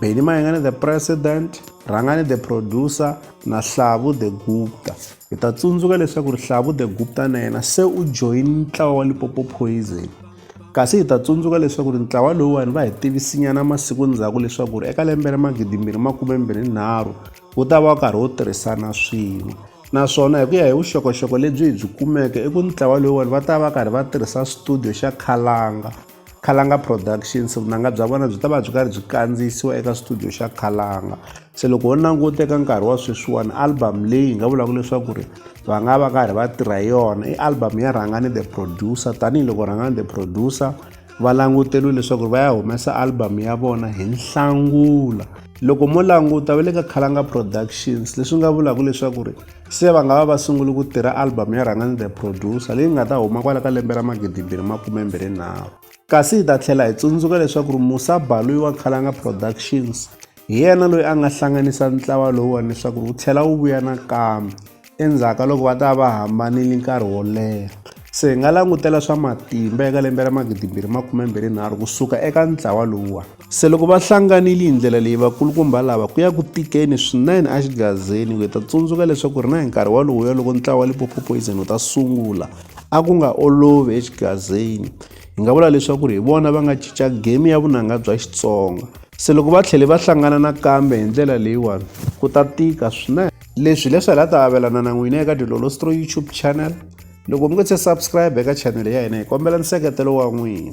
Benny Mayengane the president, Rhangani the producer na Hlavu the Gupta. Hi ta tsundzuka leswaku Hlavu the Gupta na yena se u join ntlawa wa Lipopo Poison. Kasi hi ta tsundzuka leswaku ntlawa lowuwani va hi tivisinyana masiku ndzhaku leswaku eka lembe ra magidi mbirhi makume mbirhi nharhu wu ta va karhi wu tirhisana swin'we naswona hi ku ya hi vuxokoxoko lebyi hi byi kumeke i ku ntlawa lowuwani va ta va karhi va tirhisa studio xa Khalanga Khalanga Productions vunanga bya vona byi ta va byi karhi byi kandziyisiwa eka studio xa Khalanga se loko ho languta eka nkarhi wa sweswiwani album leyi hi nga vulaka leswaku ri va nga va karhi va tirha yona i album ya Rhangani the Producer tanihiloko Rhangani the Producer va languteriwe leswaku va ya humesa album ya vona hi Nhlangula loko mo languta va le ka Khalanga Productions leswi nga vulaka leswaku ri se va nga va va sunguli ku tirha album ya rhangani the producer leyi nga ta huma kwala ka lembe ra magidimbirhi makumembirhinharhu kasi hi ta tlhela hi tsundzuka leswaku ri musa baluyi wa nkhalanga productions hi yena loyi a nga hlanganisa ntlawa lowuwani leswaku ri wu tlhela wu vuya nakambe endzhaku ka loko va ta va hambanile nkarhi wo leha se hi nga langutela swa matimba eka lembe ra magidimbirhi makumembirhinharhu kusuka eka ntlawa lowuwani Se loko va hlanganile hi ndlela leyi vakulukumba lava ku ya ku tikeni swinene exigazeni ku hi ta tsundzuka leswaku ri na hi nkarhi walowuya loko ntlawa wa Limpopo Poison wu ta sungula a ku nga olovi exigazeni hi nga vula leswaku ri hi vona va nga cinca game ya vunanga bya Xitsonga se loko va tlhele va hlangana nakambe hi ndlela leyiwani ku ta tika swinene leswi leswi hi la ta avelana na n'wina eka dilolostro youtube channel loko mi nga se subscribe eka chanele ya hina hi kombela nseketelo wa n'wina